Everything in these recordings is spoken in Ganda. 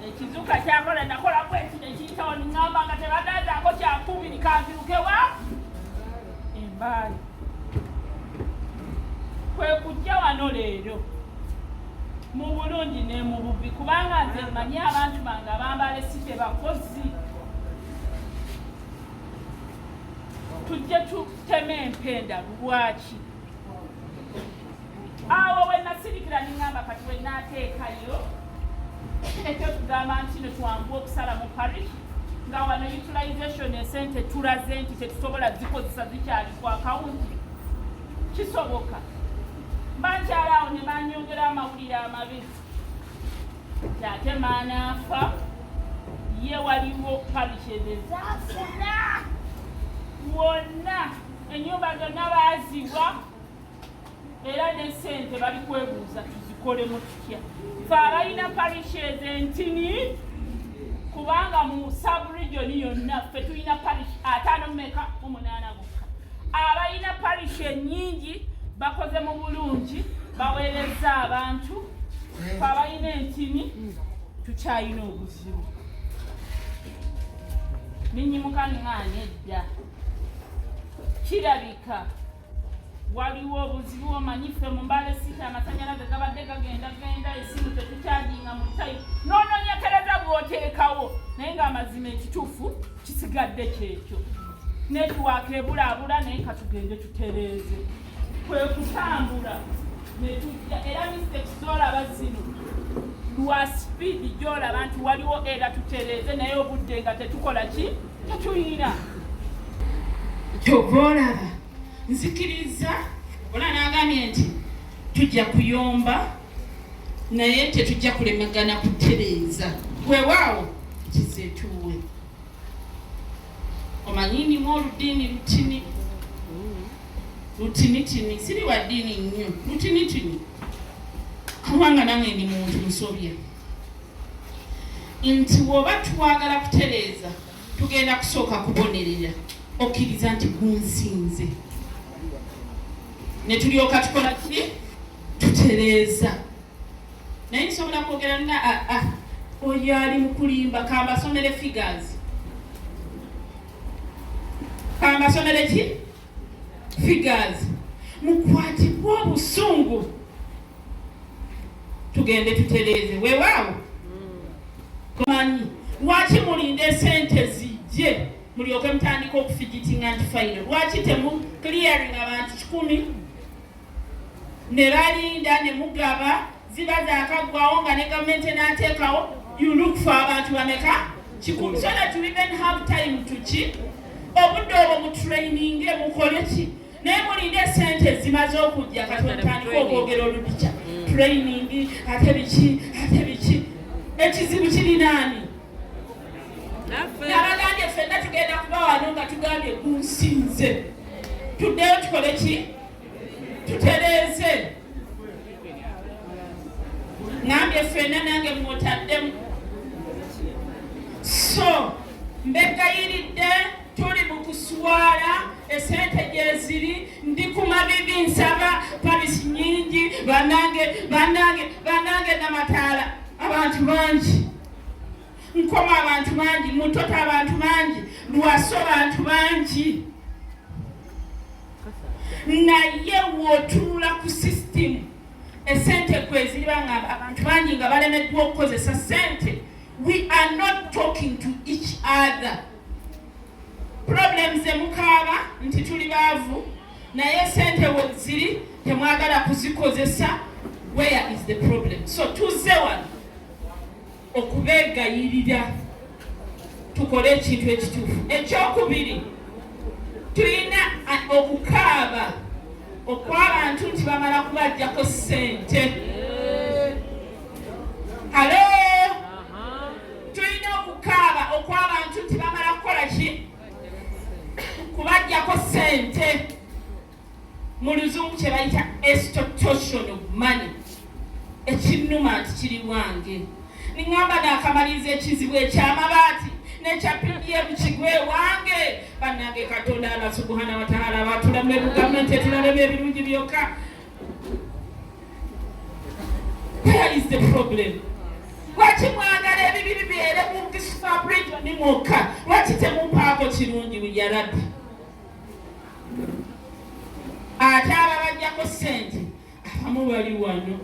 ekizuka kyakola nakola kweki nekiyitawo ningamba nga tebagandaako kyakumi nikanzirukewa embaali kwe kujja wano leero mu bulungi ne mu bubi kubanga nze mmanyi abantu bange abambala esite bakozi tujje tuteme empenda lwaki awo bwe nasirikira ningamba kati bwe nateekayo ekyo tugamba nti no twangu okusala mu parish nga wano utilization esente tulaze nti tetusobola zikozesa zikyali ku akawunti kisoboka bankyala awo ne banyongera amawulire amabi ate maanaafa ye waliwo parish ezezaafuna wonna Ennyumba zonna baaziwa era ne ssente bali kwebuuza tuzikolemu tutya. Fe abalina parishi ezo entini kubanga mu saburijoni yonna ffe tulina parishi ataano mumeka mu munaana bokka. Abalina parishi ennyingi bakoze mu bulungi baweerezza abantu fe abalina entini tukyalina obuzibu. Ninyimuka nng'ani edda. kirabika waliwo obuzibu omanyi ffe mu mbale sita amasanyalaze gabadde gagenda genda esimu tetukyajinga mu tayi nononyekereza bwoteekawo naye ngaamazima ekituufu kisigadde kyekyo netiwaaka ebulaabula naye katugende tutereeze kwe kutambula netujja era mistakes zolaba zino lwa sipiidi gyolaba nti waliwo era tutereeze naye obudde nga tetukola ki tetuyira kyova olaba nzikiriza ola nagambye nti tujja kuyomba naye tetujja kulemagana kutereeza wewaawo kizetuwe omanyi ndimu oludiini lutini lutinitini siri wa ddiini nnyo lutinitini kubanga nange ndi muntu musobya nti bw'oba twagala kutereeza tugenda kusooka kubonerera okkiriza nti gunsinze ne tulyoka tukola ki tutereeza naye nsobola kwogera nga aa ah, ah, oyo ali mukulimba kambasomere figures kambasomere ki figures mukwatibwe obusungu tugende tutereeze wewaawo manyi lwaki mulinda esente zijje mulyoke mutandika okufigitinga nti faino lwaki temu clearing abantu kikumi ne balinda ne mugaba ziba zakaggwawo nga ne gavumenti enaateekawo you look for abantu bameka kikulu so that you even have time to ki obudde obwo mutraininge mukole ki naye mulinde esente ezimaze okujja kati wetandika okwogera oludikya mm. training ate biki ate biki ekizibu kirinaani nabagambye fenna tugenda kuba wano nga tugambye gunsinze tuddeyo tukole ki tutereeze nambye fena nange mutaddemu so mbegayiridde tuli mu kuswala esente gyeziri ndi ku mabibi nsaba palisi nyingi banange banange banange namataala abantu bangi nkoma abantu bangi mutota abantu bangi lwaso bantu bangi naye wotunula ku system esente kweziriba nga abantu bangi nga balemeddwa okukozesa sente we are not talking to each other problems emukaaba nti tuli baavu naye sente weziri temwagala kuzikozesa where is the problem so tuze wano okubeegayirira tukole ekintu ekituufu. Ekyokubiri, tulina okukaaba okw'abantu nti bamala kubajjako ssente. Halo, tulina okukaaba okw'abantu nti bamala kukola ki? Kubajjako ssente. mu luzungu kye bayita extortion of money ekinnuma nti kiri bwange ningamba nakamaliriza ekizibu ekyamabaati nekya pdm kigwe wange banange katonda ala subuhana wataala batulamu ebugavumenti etulalemu ebirungi byokka where is the problem lwaki mwagala ebibi bibeere mu kisfabrijo ni mwokka lwaki temumpaako kirungi yarabi ate ababajjako ssente abamu bali wano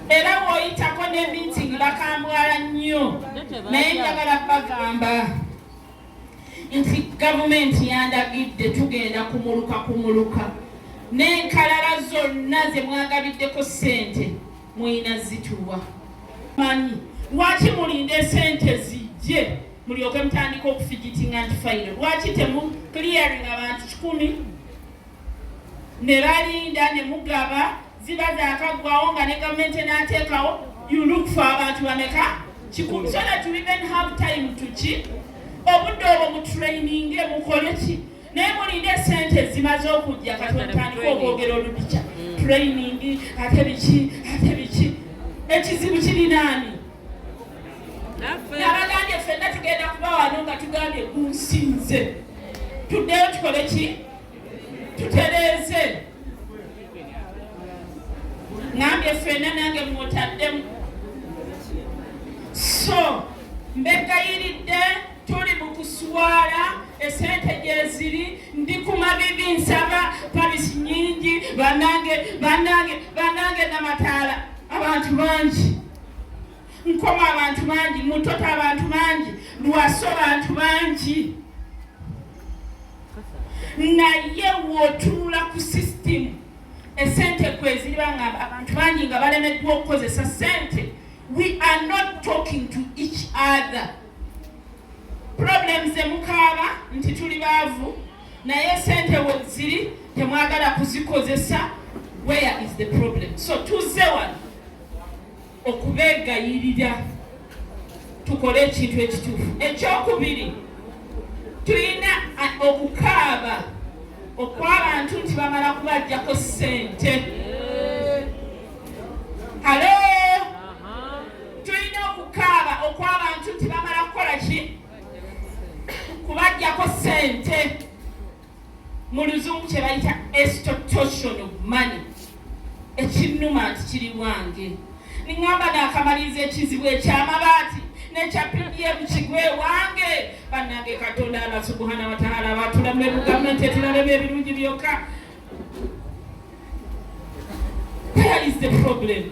era bwoyitako ne meeting bakambwala nnyo naye njagala bagamba nti gavumenti yandagidde tugenda kumuluka kumuluka n'enkalala zonna ze mwagabiddeko ssente Muyina zituwa manyi lwaki mulinde sente zijje mulyoke mutandika okufigitinga nti fayiro lwaki temu clearing abantu kikumi ne balinda ne mugaba ziba zakagwawo nga ne gavumenti enateekawo you look for abantu bameka kikumi so that we even have time to ki obudde obwo mutraininge mukole ki naye mulinde esente ezimaze okujja kati otandika okwogera oludica mm. training ate biki ate biki ekizibu kirinaani nabagambye fenna tugenda kuba wano nga tugambye gunsinze tuddeyo tukole ki tutereeze nambye fenna nange mwotaddemu so mbegayiridde tuli mu kuswala esente gyeziri ndi ku mabibi nsaba palisi nyingi banange banange banange namataala abantu bangi nkoma abantu bangi mutota abantu bangi lwaso abantu bangi naye wotunula ku sisitimu esente kweziri bangamba abantu bangi nga balemeddwa okukozesa sente we are not talking to each other Problem ze mukaaba nti tuli baavu naye sente weziri temwagala kuzikozesa where is the problem so tuzze wano okubegayirira tukole ekintu ekituufu ekyokubiri tulina okukaaba okwabantu nti bamala kubajjako sente halo Tulina okukaaba okw'abantu nti bamala kukola ki kubajjako sente mu luzungu kye bayita extortion of money ekinnuma nti kiri wange ningamba nakamaliriza ekizibu ekyamabaati nekya pdm kigwe wange bannange katonda allah subuhana wataala batulamu ebugamenti etiralemu ebirungi byokka There is the problem.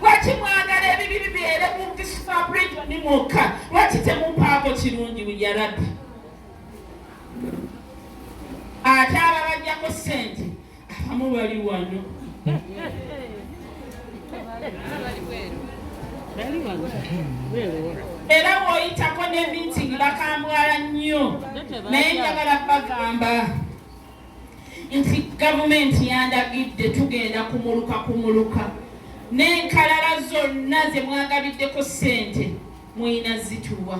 Lwaki mwagala ebibi bibeere mu Kisifa region mwokka? Lwaki temumpaako kirungi ya Rabbi? Ate ababajjako ssente abamu bali wano. era bw'oyitako ne meeting bakambwala nnyo naye njagala bagamba nti gavumenti yandagidde tugenda kumuluka kumuluka n'enkalala zonna ze mwagabiddeko ssente mulina zituwa.